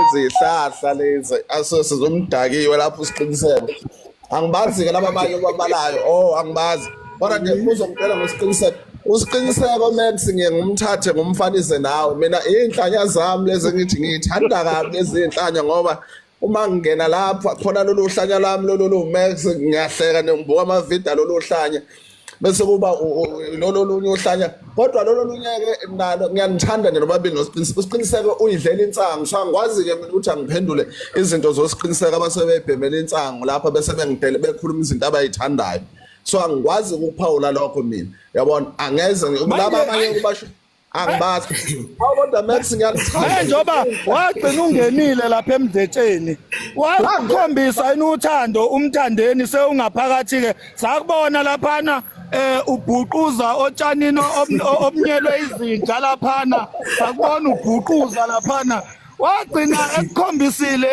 izihlahla lezi asose zomdakiwe lapho usiqiniseko angibazi-ke laba abanye obabalayo o oh, angibazi kodwa nje uzongitshela ngosiqiniseko usiqiniseko max ngiye ngumthathe ngumfanise nawe mina iy'nhlanya zami lezi ngithi ngiyithanda kabi lezi y'nhlanya ngoba uma ngingena lapha khona lolu hlanya lwami lolu lumax ngiyahleka ngibuka amavida lolu hlanya bese kuba lolo lunye uhlanya kodwa lolo lunyeke nalo ngiyanithanda nje nobabili nosiqiniseko usiqiniseko uyidlela insangu so angikwazi-ke mina ukuthi angiphendule izinto zosiqiniseko abasebebhemela insangu lapha bese bengidele bekhuluma izinto abayithandayo so angikwazi ukuphawula lokho mina yabona angeze laba abanye kubasho angibazi awu kodwa max ngiyalithanda manje njengoba wagcina ungenile lapha emdletsheni wakhombisa yini uthando umthandeni sewungaphakathi ke sakubona laphana eh ubhuquza otshanini ob- o- obunyelwe izinja laphana sakubona ubhuquza laphana wagcina ekukhombisile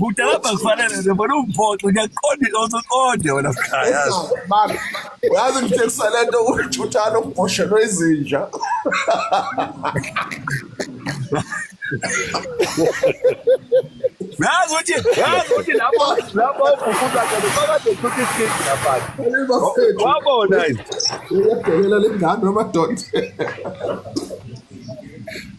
Kudala bakufanele nje bona umphoxo ngiyaqonda iloso qonde wena mkhaya. Mama, uyazi ngithekisa le nto uthuthala umbhoshelwe izinja. Yazi ukuthi yazi ukuthi lapho lapho ufufuza khona phakathi uthutha isikhithi lapha. Wabona yini? Uyabhelela lengane amadoda.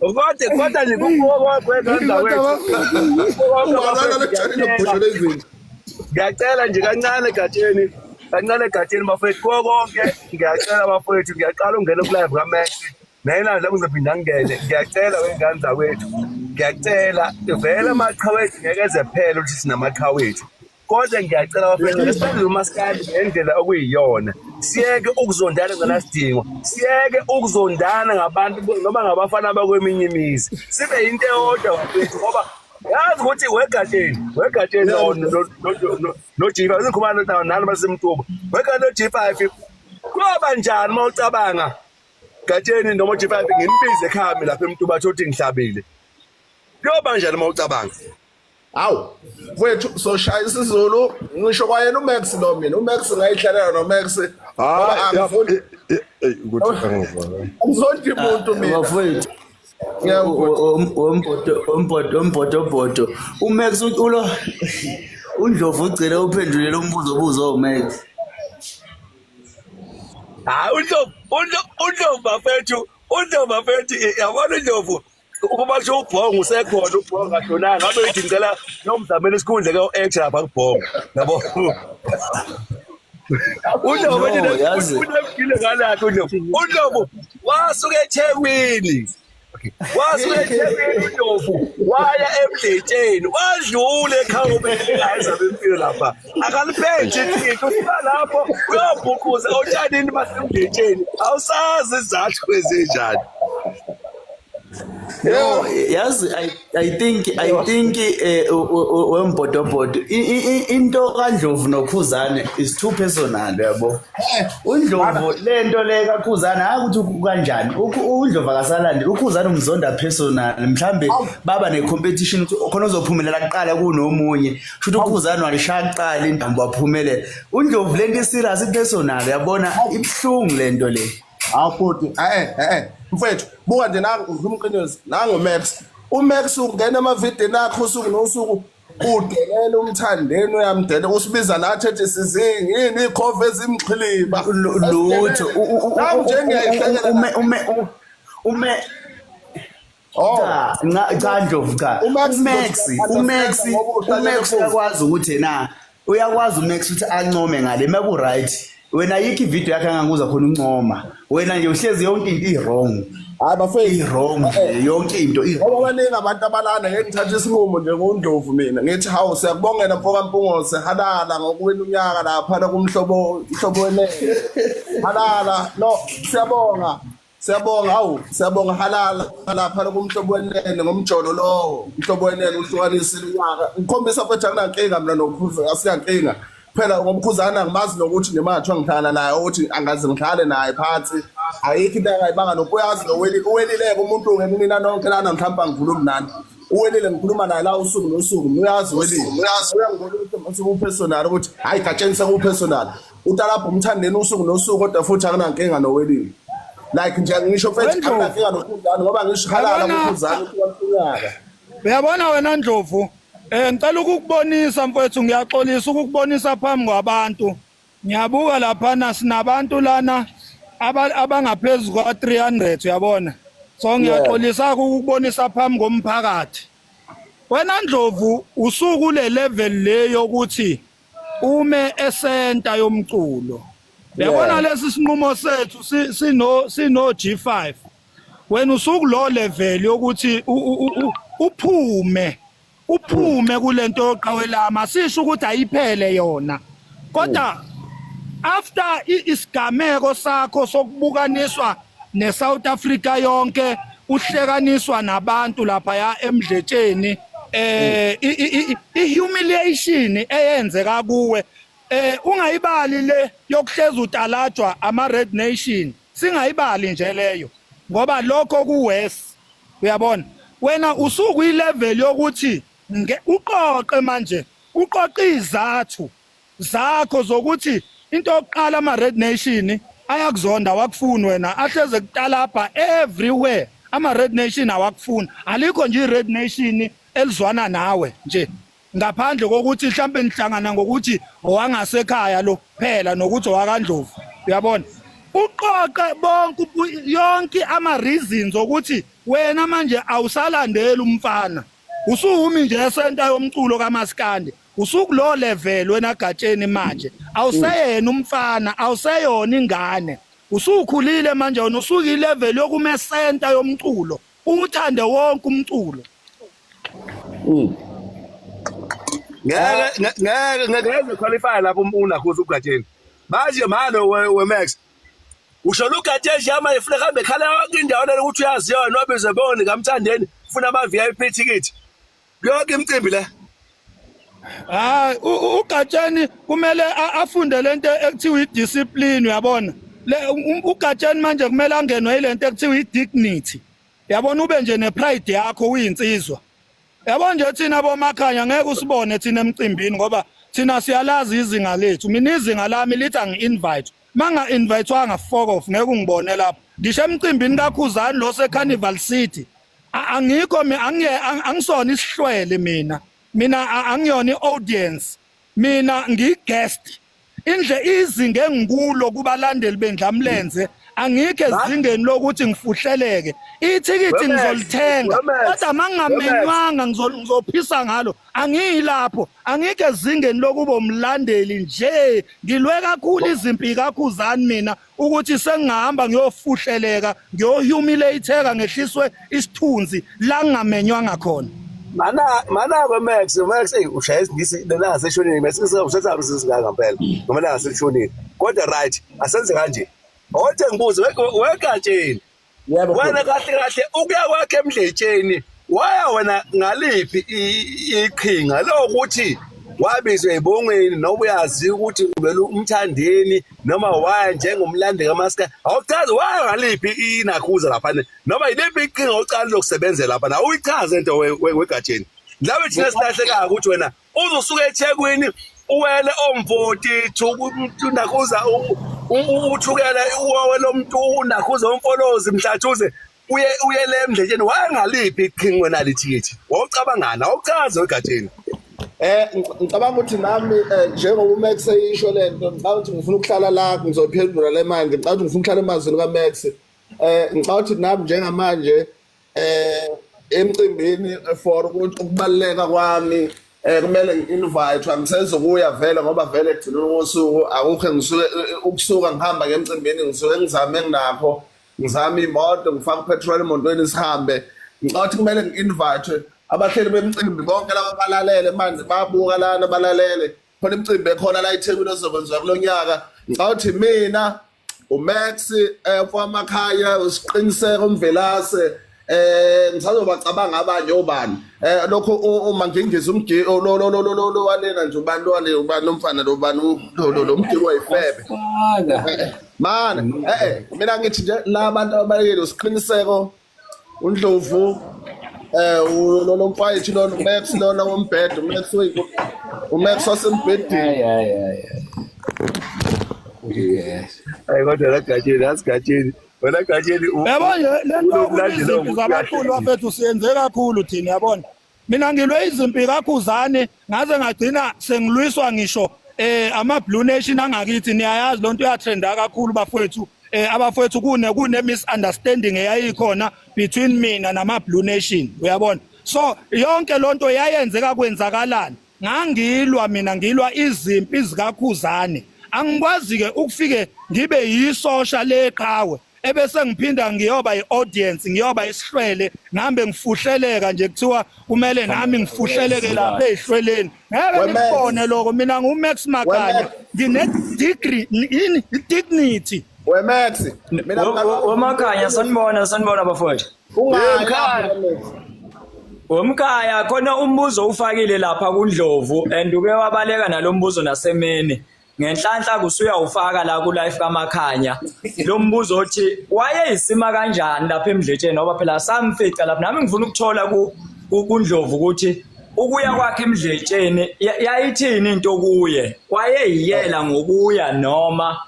Kodwa kodwa nje kukuwo kwethu Ungalala lechani nokubhosho lezinto. Ngiyacela nje kancane egatsheni kancane egatsheni bafowethu kuwo konke ngiyacela bafowethu ngiyaqala ungena kulive kaMessi nayinandla kuzophinda ngingene ngiyacela wengane zakwethu ngiyacela vele amaqha wethu ngeke eze phele ukuthi sinamaqha wethu kodwa ngiyacela bafethu lesibenzele umaskandi ngendlela okuyiyona siyeke ukuzondana nganasidingo siyeke ukuzondana ngabantu noma ngabafana bakweminye imizi sibe yinto eyodwa bafethu ngoba yazi ukuthi wegatsheni wegatsheni nojifa izikhumane nalo basemtuba wegatsheni nojifa kuyoba njani uma ucabanga gatsheni noma ujifa ngimbize ekhami lapha emtuba athi uthi ngihlabile kuyoba njani uma ucabanga hawu mfowethu soshaya isizulu ngisho kwayena umax lo mina umax ngayihlalela nomax angizondli muntu mina mfowethu ombhodobhodo umax ulo undlovu ugcine uphendulela umbuzo obuzo umax hayi undlovu undlovu bafethu undlovu bafethu yabona undlovu Uma basho ubhongo usekhona ubhongo kashonanga ngabe uyithi ngicela nomzamela isikhundla ke u-H lapha kubhongo yabo uNdlovu unebhile ngalakho uNdlovu uNdlovu wasuke eThekwini wasuke eThekwini uNdlovu waya emdletsheni wadlula ekhawubeni engayenza bempilo lapha akaliphethe iqiniso usuka lapho uyobhuquza otshanini basemdletsheni awusazi izathu ezinjani No, yazi I, I think I think eh wembhodobhodo into kaNdlovu noKhuzane is too personal yabo. Eh, uNdlovu lento le kaKhuzane hayi ukuthi kanjani. UNdlovu akasalandi uKhuzane umzonda personal. Mhlambe baba ne competition ukuthi khona ozophumelela kuqala kunomunye. Shuthi uKhuzane walishaya kuqala indambo waphumelela. UNdlovu lento i serious i personal yabona ibhlungu lento le. hawu bhuti e-e e-e mfethu buka nje nangiqinisi nangumax umax ungena emavidini akho usuku nosuku udelela umthandeni uyamdela usibiza nathi ethi sizingi yini ikhova ezimxhiliba lutho njengehlekela ume ume ume Oh cha nca- cha Ndlovu cha uMax uMax uzothi uMax understand ngoba uhlale uMax nephuzu. uyakwazi ukuthi na uyakwazi uMax ukuthi ancome ngale maku right wena yikho ivideo yakhe anganguza khona uncoma wena nje uhlezi yonke into i-wrong hayi bafethu i-wrong nje yonke into i- ngoba baningi abantu abalana ngeke ngithathe isinqumo njengondlovu mina ngithi hawu siyakubongela mfoka mpungose halala ngokuwena unyaka laphana kumhlobo mhlobo wenene halala no siyabonga Siyabonga awu siyabonga halala lapha lokumhlobo wenene ngomjolo lowo umhlobo wenene uhlukanisa iminyaka ukhombisa futhi akunankinga mina nokhuza asiyankinga phela ngomkhuzana ngimazi nokuthi nemathwa ngihlala naye ukuthi angaze ngihlale naye phansi ayikho into angayibanga nokho uyazi nowelile uwelileke umuntu ngeke mina nonke lana mhlawumbe angikhulumi nani uwelile ngikhuluma naye la usuku nosuku uyazi uwelile uyazi uyangibona ukuthi usuku upersonal ukuthi hayi gatsheni sekupersonal utalabha umthandeni usuku nosuku kodwa futhi akanankinga nowelile like nje ngisho mfethu Wendlovu. akanankinga nokhuzane ngoba ngisho halala Yabona- ngokhuzane kuyafunaka uyabona wena ndlovu um ngicela ukukubonisa mfwethu ngiyaxolisa ukukubonisa phambi kwabantu ngiyabuka laphana sinabantu lana aba- abangaphezu kwa-300 uyabona so ngiyaxolisa ukukubonisa phambi komphakathi wena ndlovu usuku le level le yokuthi ume esenta yomculo yabona lesi sinqumo sethu sino sino G5 wena usuku lo level yokuthi uphume uphume kulento yoqawelama sisho ukuthi ayiphele yona kodwa after isigameko sakho sokubukaniswa neSouth Africa yonke uhlekaniswa nabantu lapha ya emdletsheni eh ihumiliation eyenzeka kuwe eh ungayibali le yokuhleza utalajwa ama red nation singayibali nje leyo ngoba lokho kuwes uyabona wena usuku ilevel yokuthi uqoqe manje uqoqa izathu zakho zokuthi into yokuqala ama red nation ayakuzonda wakufuni wena ahleze kutalabha everywhere ama red nation awakufuni alikho nje red nation elizwana nawe nje ngaphandle kokuthi mhlambe nihlangana ngokuthi owangasekhaya lo phela nokuthi owakandlovu uyabona uqoqe bonke yonke ama reasons ukuthi wena manje awusalandeli umfana usuhumi nje esenta yomculo kamaskandi usukulo level wena gatsheni manje awuseyena umfana awuseyona ingane usukhulile manje wena usuke ilevel yokume center yomculo uthande wonke umculo mm. ngeke ngeke ngeke qualify lapho unakhuza ugatsheni manje manje we Max usho lugatsheni yama ifuna kambe khala indawo ukuthi uyaziyona obizeboni kamthandeni ufuna ama VIP ticket Yonke imicimbi le. Hayi uGatsheni kumele afunde lento ekuthiwa idiscipline uyabona. Um, uGatsheni manje kumele angenwe ilento ekuthiwa idignity. Yabona ube nje nepride yakho uyinsizwa. Yabo nje thina bomakhanya ngeke usibone thina emcimbini ngoba thina siyalazi izinga lethu. Mina izinga lami lithi angi-invite. Manga invitewanga fuck off ngeke ungibone lapho. Ngisho emcimbini kaKhuzani lo seCarnival City angikho angisona isihlwele mina mina angiyona i-audience mina ngiyi-guest indle izinga engikulo kubalandeli bendlamlenze angikho ezingeni lokuthi ngifuhleleke ithikithi ngizolithenga kodwa mangingamenywanga ngizophisa ngalo angiyilapho angikho ezingeni lokuba umlandeli nje ngilwe kakhulu izimpi kakhuzani mina ukuthi sengihamba ngiyofuhleleka ngiyohumilate-eka ngehliswe isithunzi la ngingamenywanga khona mana mana ke max max ey ushaya isingisi lena ngaseshonini max usethatha umsisi ngaka phela noma ngaseshonini kodwa right asenze kanje othe ngibuze wekatsheni Yebo. wena kahle kahle ukuya kwakhe emdletsheni waya wena ngaliphi i- iqhinga lokuthi wabizwa ebongweni noma uyazi ukuthi uvele umthandeni noma waya njengomlandi kamaska awuchazi waya ngaliphi inakhuza lapha ne- noma yiliphi iqhinga ocala lokusebenzela lapha na uyichaze into we- we- wegatsheni mhlawumbe thina silahlekayo ukuthi wena uzosuka ethekwini uwele omvotithu unakhuza uthukele uwe lomuntu unakhuza umfolozi mhlathuze uye uye le mdletsheni wayengaliphi iqhingi wena lithikithi wawucabangani awuchaze egatsheni Eh ngicabanga ukuthi nami eh, njengoba uMax eyisho lento ngicabanga ukuthi ngifuna ukuhlala la ngizophendula le manje ngicabanga ukuthi ngifuna ukuhlala emazwini kaMax eh ngicabanga ukuthi nami njengamanje eh emcimbini for ukuthi ukubaluleka kwami eh kumele ngi-invite angisezokuya vele ngoba vele ekugcineni kosuku akukho engisuke ukusuka ngihamba ngemcimbini ngisuke ngizame nginakho ngizame imoto ngifake upetrol emotweni sihambe ngicathi kumele ngi-invite abahleli bemcimbi bonke laba balalele manje babuka lana balalele khona imicimbi ekhona la ethekwini ezokwenziwa kulo nyaka ngicawuthi mina uMax eh kwamakhaya usiqiniseka umvelase eh ngisazobacabanga abanye obani eh lokho uma ngingizwe umgili oh, lo lo lo lo lo walena nje ubani lo wale ubani umfana lo bani lo lo lo mgili wayifebe mana eh, eh mina ngithi nje labantu abayekele usiqiniseko undlovu eh lolo mfayethu lona umax lona wombhedo umax oyiku umax wasembhedeni hayi kodwa lagatsheni asigatsheni wena gatsheni yabo le nto kulezimpi zabaculi bafethu siyenze kakhulu thina yabona Mina ngilwe izimpi kaKhuzani ngaze ngagcina sengilwiswa ngisho eh ama Blue Nation angakithi niyayazi lonto uyatrenda kakhulu bafowethu eh abafowethu kune kune misunderstanding eyayikhona between mina nama Blue Nation uyabona so yonke lonto yayenzeka kwenzakalani ngangilwa mina ngilwa izimpi zikakhuzane angikwazi ke ukufike ngibe yisosha leqhawe ebese ngiphinda ngiyoba iaudience ngiyoba isihlwele ngihambe ngifuhleleka nje kuthiwa kumele nami ngifuhleleke lapha ezihlweleni ngeke ngikubone lokho mina ngu Max Makanya ngine degree in dignity we Max mina uMakanya sanibona sanibona bafowethu Ungaya Womkhaya khona umbuzo ufakile lapha kuNdlovu and uke wabaleka nalombuzo nasemini. Ngenhlanhla kusuya ufaka la ku life kaMakhanya. Lo mbuzo othi wayeyisima kanjani lapha emdletsheni ngoba phela samfica lapha nami ngifuna ukuthola ku kuNdlovu ukuthi ukuya kwakhe emdletsheni yayithini into kuye wayeyiyela ngokuya noma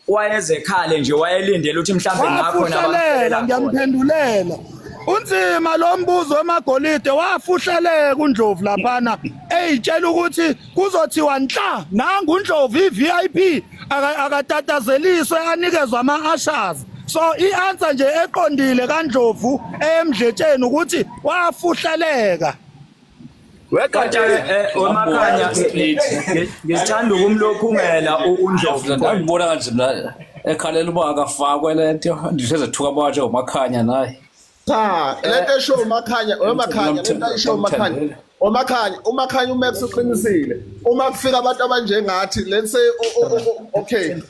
wayezekhale nje wayelindele ukuthi mhlawumbe kungakhona wafuhlelela abamthelela khona ngiyamphendulela unzima lo mbuzo wemagolide wafuhleleka undlovu laphana eyitshela ukuthi kuzothiwa nhla nangu undlovu i-vip aka- akatatazeliswe anikezwa ama-ashas so i-answer nje eqondile kandlovu eyemdletsheni ukuthi wafuhleleka Wegatsha eh, omakhanya ngithanda ukumlophungela uNdlovu. Ngibona kanje mina ekhalela uba akafakwe lento ndihleze thuka abatshe umakhanya naye. Cha, lento esho umakhanya, umakhanya, lento esho umakhanya. Omakhanya umakhanya uMax uqinisile uma kufika abantu abanjengathi let's say okay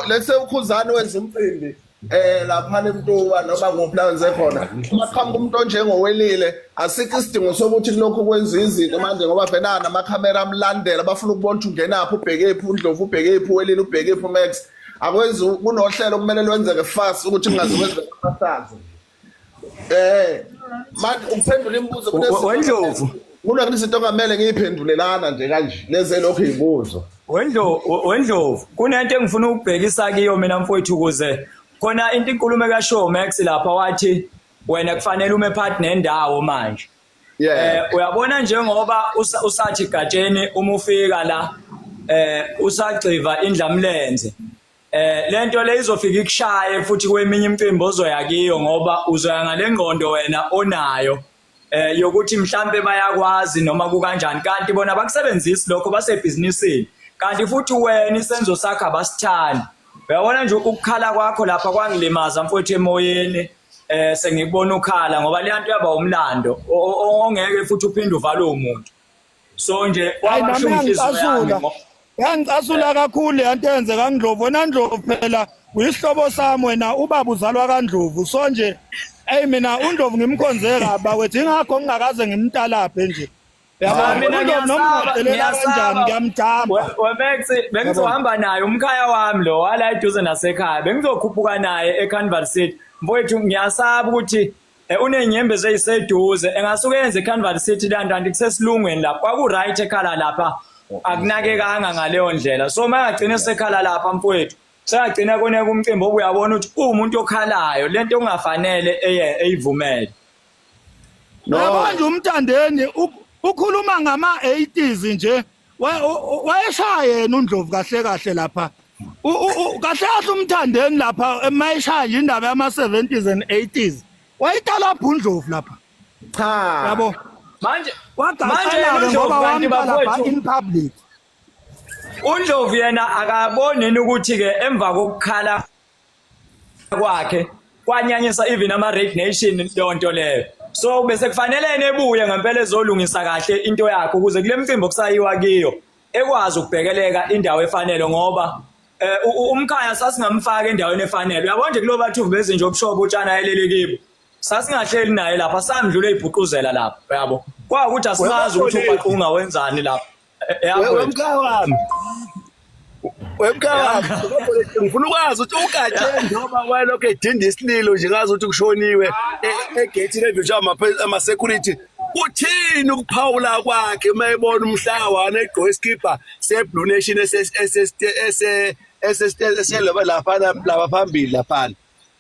let's say ukhuzani wenza umcimbi eh laphana emtuba noma kuphi la wenze khona uma qhamuka umuntu onjengowelile asikho isidingo sokuthi kulokhu kwenza izinto manje ngoba vele namakhamera amlandela bafuna ukubona ukuthi ungenaphi ubhekephi undlovu ubhekephi uwelile ubhekephi umax akwenzi kunohlelo kumele lwenzeke fast ukuthi kungazi kwenza amasazo eh manje ukuphendula imibuzo kunezinto wendlovu kuna kunezinto ongamele ngiyiphendulelana nje kanje leze lokho izibuzo wendlovu wendlovu kunento engifuna ukubhekisa kiyo mina mfowethu kuze khona into inkulumo ka show max lapha wathi wena kufanele ume part nendawo manje yeah eh, uyabona njengoba usathi gatsheni uma ufika la eh usagxiva indlamlenze Eh lento le izofika ikushaye futhi kweminye imicimbi ozoya kiyo ngoba uzoya ngalengqondo wena onayo eh yokuthi mhlambe bayakwazi noma kukanjani kanti bona bakusebenzisi lokho basebhizinisini kanti futhi wena isenzo sakho abasithandi uyabona nje ukukhala kwakho lapha kwangilimaza mfowethu emoyeni eh sengikubona ukhala ngoba leyanto yaba umlando ongeke futhi uphinde uvalwe umuntu so nje wabasho ngicasula yangicasula kakhulu yanto yenze kandlovu nandlovu phela uyisihlobo sami wena ubaba uzalwa kandlovu so nje eyi mina undlovu ngimkhonze kaba wethu ingakho ngingakaze ngimtalaphe nje bengizohamba naye umkhaya wami lo wala eduze nasekhaya bengizokhuphuka naye ecanval city mfowethu ngiyasaba ukuthi Eh, unenyembezi eyiseduze engasuke yenze icanval city lanto anti kusesilungweni lapho kwaku-right ekhala lapha akunakekanga ngaleyo ndlela so uma engagcina sekhala lapha mfowethu sekagcina koneka umcimbi obuyabona ukuthi uwumuntu okhalayo le nto okungafanele eyivumele yabona nje umthandeni ukhuluma ngama-80s nje wayeshaya yena uNdlovu kahle kahle lapha kahle kahle umthandeni lapha emayishaya nje indaba yama 70s and 80s wayitala bhundlovu lapha cha yabo manje wagaxana ngoba wamtala ba in public uNdlovu yena akaboni ukuthi ke emva kokukhala kwakhe kwanyanyisa even ama red nation yonto leyo so bese kufanele nebuye ngempela ezolungisa kahle into yakhe ukuze kule mcimbi okusayiwa kiyo ekwazi ukubhekeleka indawo efanele ngoba eh, umkhaya sasingamfaka endaweni efanele uyabona nje kulo bathu bezinje obushobo utshana ayelele kibo sasingahleli naye lapha samdlula ibhuquzela lapha yabo kwakuthi asimazi ukuthi ubhaqunga wenzani lapha Wewe mkhaya wami. Wewe mkhaya wami. Ngifuna ukwazi ukuthi uGatsheni njengoba wayelokhu edinda isililo nje ngazi ukuthi kushoniwe e- egethini evinjwa ama-security uthini ukuphawula kwakhe uma ebona umhlawana egqoke isikibha seblue nation eselapha lapha phambili laphana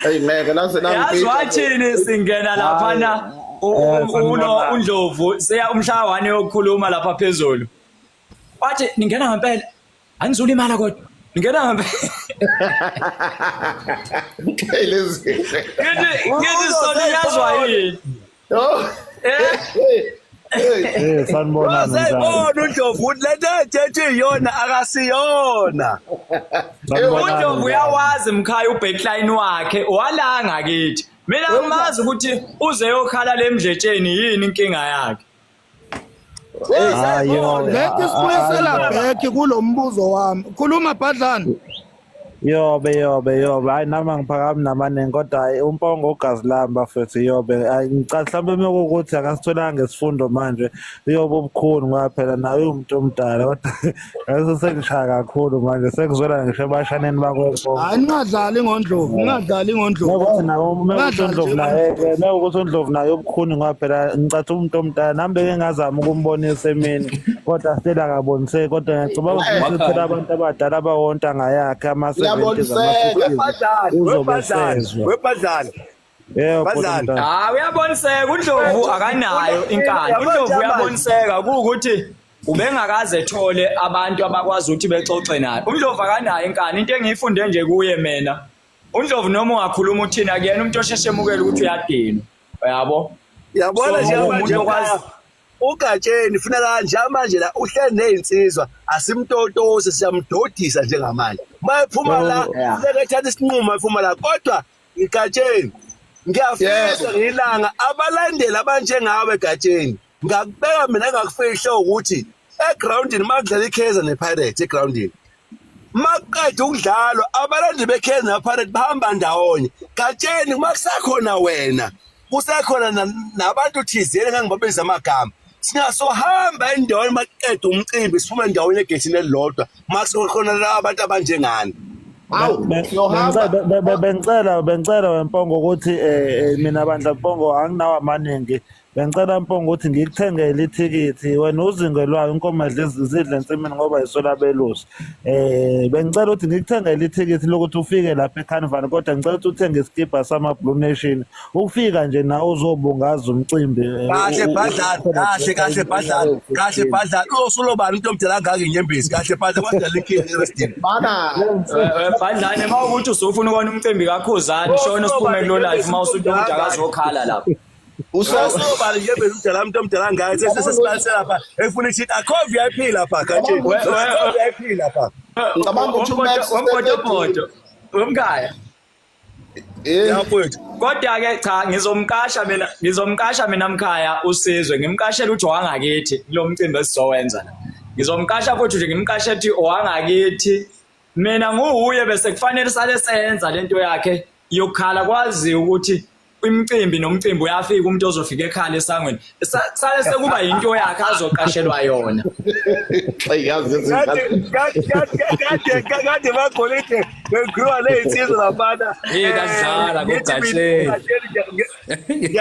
Hey ngeke naze nangiphika. Yazi wathini singena lapha na uno undlovu seya umhlawane yokukhuluma lapha phezulu. Wathi ningena ngempela. Angizula imali kodwa. Ningena ngempela. Hey lezi. Ngithi ngithi sona yazwa yini? Eh sanibona Sanibona uNdlovu ukuthi lento ethethe iyona akasiyona. UNdlovu uyawazi mkhaya ubackline wakhe walanga kithi. Mina ngimazi ukuthi uze yokhala lemdletsheni yini inkinga yakhe. Ngeke sibuyisela back kulo mbuzo wami. Khuluma Bhadlana. Yobe yobe yobe hayi nami angiphakami namaningi kodwa hayi umpongo ugazi lami bafethu yobe hayi ngicabanga mhlawumbe uma kuwukuthi akasitholanga isifundo manje uyobe ubukhuni ngoba phela naye uwumuntu omdala kodwa Eso sengishaya kakhulu manje sekuzwela ngisho ebashaneni bakwethu. Hayi ningadlali ngondlovu, ningadlali ngondlovu. Ngokuthi nawo uma ukuthi Ningadlali uNdlovu nje naye ngondlovu. ke uma ukuthi uNdlovu naye ubukhuni ngoba phela ngicatha umuntu omdala nami beke ngazama ukumbonisa emini kodwa still akaboniseki kodwa ngiyacabanga ukuthi Wakhani. usuthela abantu abadala abawonta ngayakhe ama-70s Uyaboniseka. ama-50s Webhadlani, uzobe webhadlani, esezwa webhadlani. Yeah, bhuti Badlali. mdala. hayi uyaboniseka undlovu akanayo inkani Yabona undlovu manje. uyaboniseka kuwukuthi ubengakaze ethole abantu abakwazi ukuthi bexoxe naye undlovu akanayo inkani into engiyifunde nje kuye mina undlovu noma ungakhuluma uthina kuyena umuntu osheshe emukele ukuthi uyadinwa uyabo yabona So, nje umuntu manje okwazi- la, ugatsheni funa kanje manje la uhleli nezinsizwa asimtotose siyamdodisa njengamanje mayephuma la Yeah. funeka ethatha isinqumo ephuma la kodwa igatsheni ngiyafisa ngilanga abalandeli abanjengawe egatsheni ngakubeka mina ngakufihla ukuthi egroundini makudlala ikaizer nepirates egroundini makuqeda ukudlalwa abalandeli bekaizer nepirates bahamba ndawonye gatsheni uma kusakhona wena kusekhona nabantu thizeni engangibabiza amagama singasohamba endaweni maqeda umcimbi siphume endaweni egethini elilodwa makusekhona la abantu abanjengani bengicela bengicela wempongo ukuthi eh, eh, mina bandla mpongo anginawo amaningi bengicela mpongo ukuthi ngikuthengele ithikithi wena uzingelwayo inkomo edla izidle ensimini ngoba yisolabelusi Eh bengicela ukuthi ngikuthengele ithikithi lokuthi ufike lapha eCarnival kodwa ngicela ukuthi uthenge isikibha sama Blue Nation. Ukufika nje nawe uzobungaza umcimbi. eh, kahle u- u- bhadlana ukhona kahle kahle bhadlana kahle bhadlana usulobani into omdala angaka inyembezi kahle bhadlana wadala inkinga erestin Bana. badlane uma ukuthi usufuna ukona umcimbi kakhuzani shona usiphume kulo life uma usuthi umuntu akazokhala lapho usosobala nje vele umdala umuntu omdala ngayo sesesibalisela lapha efuna ithi akho vip lapha kanti akho vip lapha ngicabanga ukuthi umax womgodogodo womkhaya eh. yafowethu kodwa-ke cha ngizomqasha mina ngizomqasha mina mkhaya usizwe ngimqashela uthi wangakithi kulo mcimbi esizowenza la ngizomqasha futhi nje ngimqashe ethi owangakithi mina nguwuye bese kufanele sale senza lento yakhe yokukhala kwaziyo ukuthi imicimbi nomcimbi uyafika umuntu ozofika ekhala esangweni sale sekuba yinto yakhe azoqashelwa yona kade bagolide begriwa ley'nsizwa labana idadlala kugahleni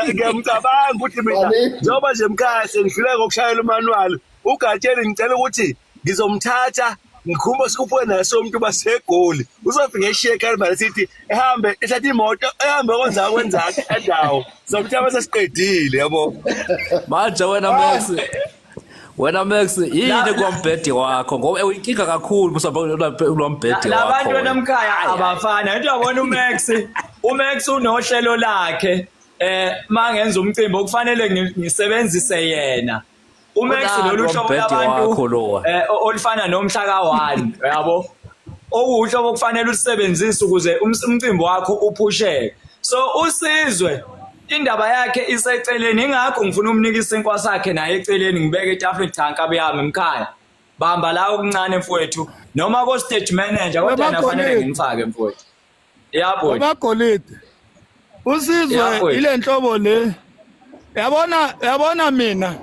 ngiyamcabanga ukuthi mina njengoba nje mkhaya sengidlule ngokushayela umanwalo ugatsheni ngicela ukuthi ngizomthatha ngikhumba sikhuphuke naye somuntu basegoli uzofika eshiye ekalibale sithi ehambe ethatha imoto ehambe kwenza kwenza endawo somthaba sesiqedile yabo manje wena Max wena Max yini kwambhede wakho ngoba uyinkinga kakhulu musabakulombhede wakho labantu benamkhaya abafana into yabona uMax uMax unohlelo lakhe eh mangenza umcimbi okufanele ngisebenzise yena uMax Unalo lolu hlobo umbhede wakho labantu lowa. eh, o- olufana nomhlaka one yabo okuwuhlobo okufanele ulusebenzise ukuze ums- umcimbi wakho uphusheke so usizwe indaba yakhe iseceleni ingakho ngifuna umnika isinkwa sakhe naye eceleni ngibeke etafuleni cha nkabi yami mkhaya bamba la okuncane mfowethu noma ko-stage manager kodwa yena Wemagoneni. fanele ngimfake mfowethu yabo abagolide usizwe ile nhlobo le yabona yabona mina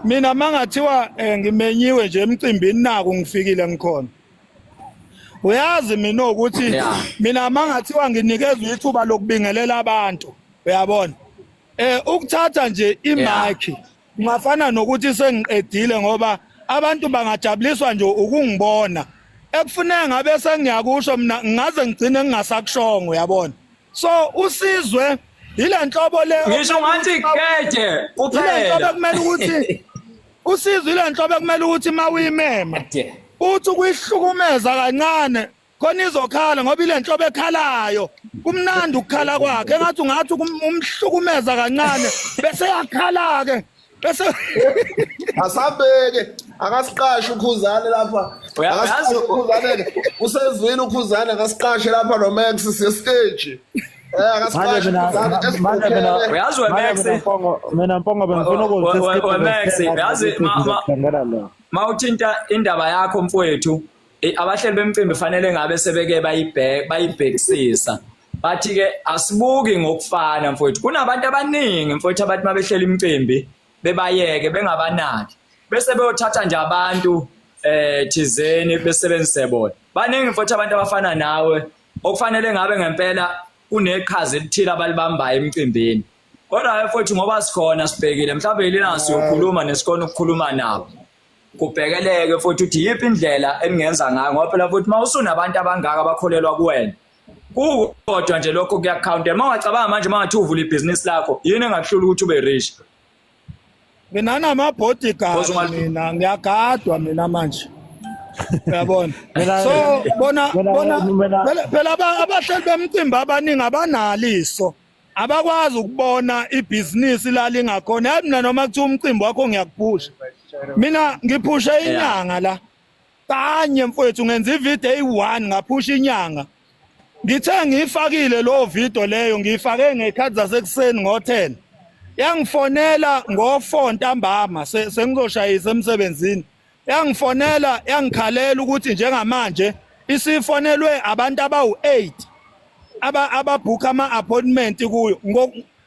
mina mangathiwa eh, ngimenyiwe nje emcimbini naku ngifikile ngikhona uyazi mina ukuthi mina mangathiwa nginikezwe ithuba lokubingelela abantu uyabona eh ukuthatha nje imaki Kungafana nokuthi sengiqedile ngoba abantu bangajabuliswa nje ukungibona. Ekufuneka ngabe sengiyakusho mina ngaze ngigcine ngingasakushongo yabona. So usizwe yile nhlobo le Ngisho ngathi keje kuphela. Yile nhlobo kumele ukuthi usizwe yile nhlobo kumele ukuthi mawuyimema. Uthi kuyihlukumeza kancane khona izokhala ngoba ile nhlobo ekhalayo kumnandi ukukhala kwakhe engathi ungathi umhlukumeza kancane bese yakhala-ke bese asabheke akasiqashe ukhuzane lapha akasiqashe ukhuzane-ke usezwini ukhuzane akasiqashe lapha nomax siyesteji mina mpongo bengifuna ukuziyazi ma uthinta indaba yakho mfowethu Eh, abahleli bemcimbi fanele ngabe sebeke bayibheka bayibhekisisa bathi ke asibuki ngokufana mfowethu kunabantu abaningi mfowethu abathi mabehlela imicimbi bebayeke bengabanaki bese beyothatha nje abantu eh thizeni besebenzise bona baningi mfowethu abantu abafana nawe okufanele ngabe ngempela kuneqhaza elithile abalibambayo emcimbini kodwa mfowethu ngoba sikhona sibhekile mhlawumbe yilina siyokhuluma nesikona ukukhuluma nabo kubhekeleke futhi ukuthi yiphi indlela eningenza ngayo ngoba phela futhi uma usunabantu abangaka abakholelwa kuwena kukodwa nje lokho kuyakhawuntela uma ungacabanga manje uma ngathi uvula ibhizinisi lakho yini engakuhlula ukuthi ube rich mina namabodyguard mina ngiyagadwa mina manje uyabona so bona bona phela abahleli bemcimbi abaningi abanalo iso abakwazi ukubona ibhizinisi lalingakhona yazi mina noma kuthiwa umcimbi wakho ngiyakuphusha mina ngiphusha inyanga la kanye mfowethu ngenza ivideo eyi-one ngaphusha inyanga ngithe ngiyifakile lowo video leyo ngiyifake ngey'khathi zasekuseni ngo-ten yangifonela ngo-four ntambama sengizoshayisa emsebenzini yangifonela yangikhalela ukuthi njengamanje isifonelwe abantu abawu-8 aba ababhukha ama-appointment kuyo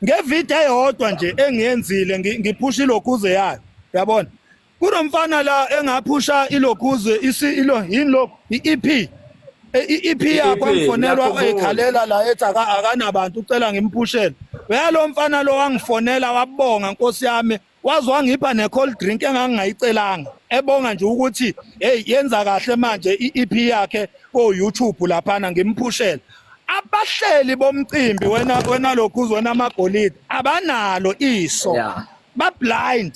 ngevideo eyodwa nje engiyenzile ngiphusha ilokhuze yayo yabona kunomfana la engaphusha ilokhuze isilo yini lokhu i-EP i-EP e yakho angifonelwa ekhalela la ethi akanabantu ucela ngimphushele uyalo mfana lo wangifonela wabonga nkosi yami waze wangipha ne-cold drink engangingayicelanga ebonga nje ukuthi heyi yenza kahle manje i-ep yakhe ko-youtube laphana ngimphushele abahleli bomcimbi wena wena lokhu uzona amagolide abanalo iso yeah. bablind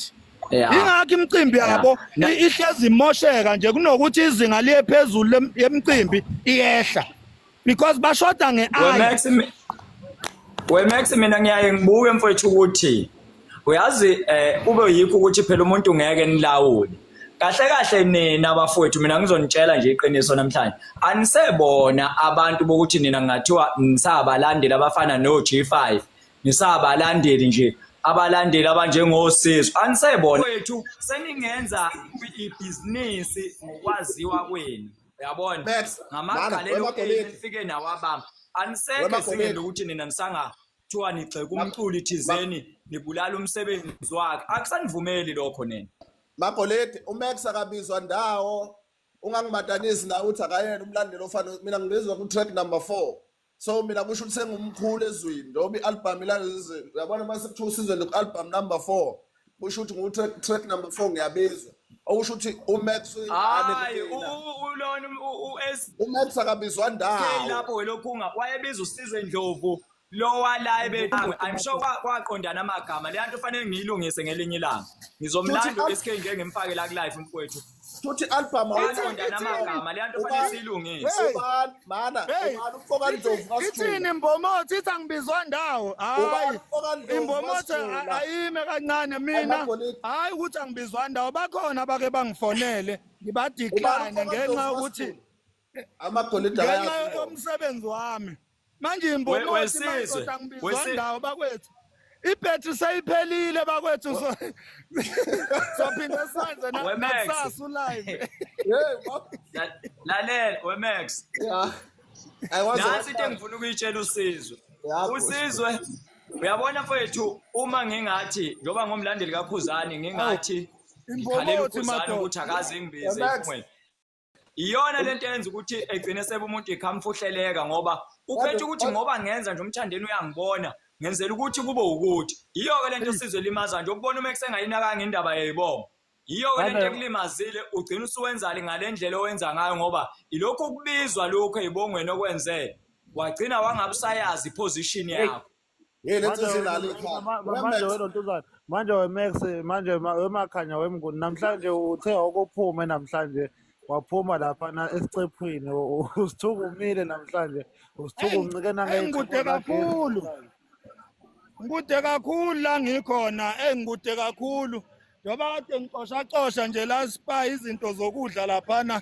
yeah. ingakho imicimbi yabo yeah. ihlezi imosheka nje kunokuthi izinga liye phezulu yemicimbi iyehla because bashoda nge eye Max we Max mina ngiyaye ngibuke mfowethu ukuthi uyazi eh kube yikho ukuthi phela umuntu ngeke nilawule kahle kahle nina abafowethu mina ngizonitshela nje iqiniso namhlanje anisebona abantu bokuthi nina ngathiwa nisabalandeli abafana no G5 nisabalandeli nje abalandeli abanjengosizo anisebona wethu seningenza ibhizinisi ngokwaziwa kwenu uyabona Babes, ngamagqalelo nana, wema okeyini Gomedi. efike nawabamba aniseke Wema singene Gomedi. ukuthi nina nisanga kuthiwa nigxeka umculi thizeni nibulala umsebenzi wakhe akusanivumeli lokho nina Magolede uMax akabizwa ndawo ungangimatanisi nawe uthi akayena umlandeli ofana mina ngibizwa ku track number 4 so mina kusho ukuthi sengumkhulu ezweni njengoba i-albhamu ilalezi yabona uma sekuthiwa usizwe loku-albhamu number four kusho ukuthi ngu-track number four ngiyabizwa okusho ukuthi umax hayi ulona umax akabizwa ndawo lapho welokhu unga wayebiza usizwe ndlovu lowa la ebethawe i'm sure kwaqondana amagama leyanto fanele ngiyilungise ngelinye ilanga ngizomlanda uSK ngeke ngimfake la ku live mfowethu Shuthi album awuyona namagama le nto fanele siyilungise. Ubani mana ubani ufoka Ndlovu kaSjulu. Ithini imbomothi ithi angibizwa ndawo. Hayi. Imbomothi ayime kancane mina. Hayi ukuthi angibizwa ndawo bakhona abake bangifonele ngibadiklane ngenxa ukuthi amagolide ngenxa yomsebenzi wami manje imbonosimadoda ngibizwa ndawo bakwethu ibhetri seyiphelile bakwethu sophinde senze nakusasa ulive lalela wemax nansi into engifuna ukuyitshela usizwe usizwe uyabona mfowethu uma ngingathi njengoba ngomlandeli kakhuzane ngingathi ngikhalela ukhuzane ukuthi akaze ngibize iyona lento yenza ukuthi egcine sebe umuntu ikhamfuhleleka ngoba uphethe ukuthi ngoba ngenza nje umthandeni uyangibona ngenzela ukuthi kube ukuthi yiyo-ke lento esizwe limaza nje ukubona uma kusengayinakanga indaba yayibonga yiyo-ke lento ekulimazile ugcina usuwenzali ngale ndlela owenza ngayo ngoba ilokhu ukubizwa lokhu ey'bongweni okwenzele wagcina wangabusayazi iposition yakho Hey manje lentsisi wena inalo ikhanda. ma- ma- manje Wemex. wena untuzana manje wemax manje ma- wemakhanya wemnguni namhlanje uthe okuphume namhlanje waphuma laphana esicephwini u- u- usithuka umile namhlanje usithuka Hey, uncike hey nangey'chipho ngikude zagesi kakhulu. namhlanje Ngikude kakhulu la ngikhona. Hey ngikude kakhulu. Njengoba kade ngicosha cosha nje la spa izinto zokudla laphana.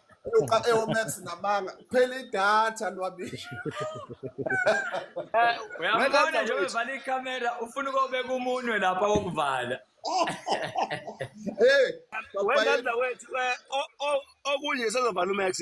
Uqa eomax namanga. Phela idatha lwabishi. Eh, uyabona nje uvala ikamera ufuna ukobeka umunwe lapha wokuvala. Hey, wethu eh, okunye sezovala uMax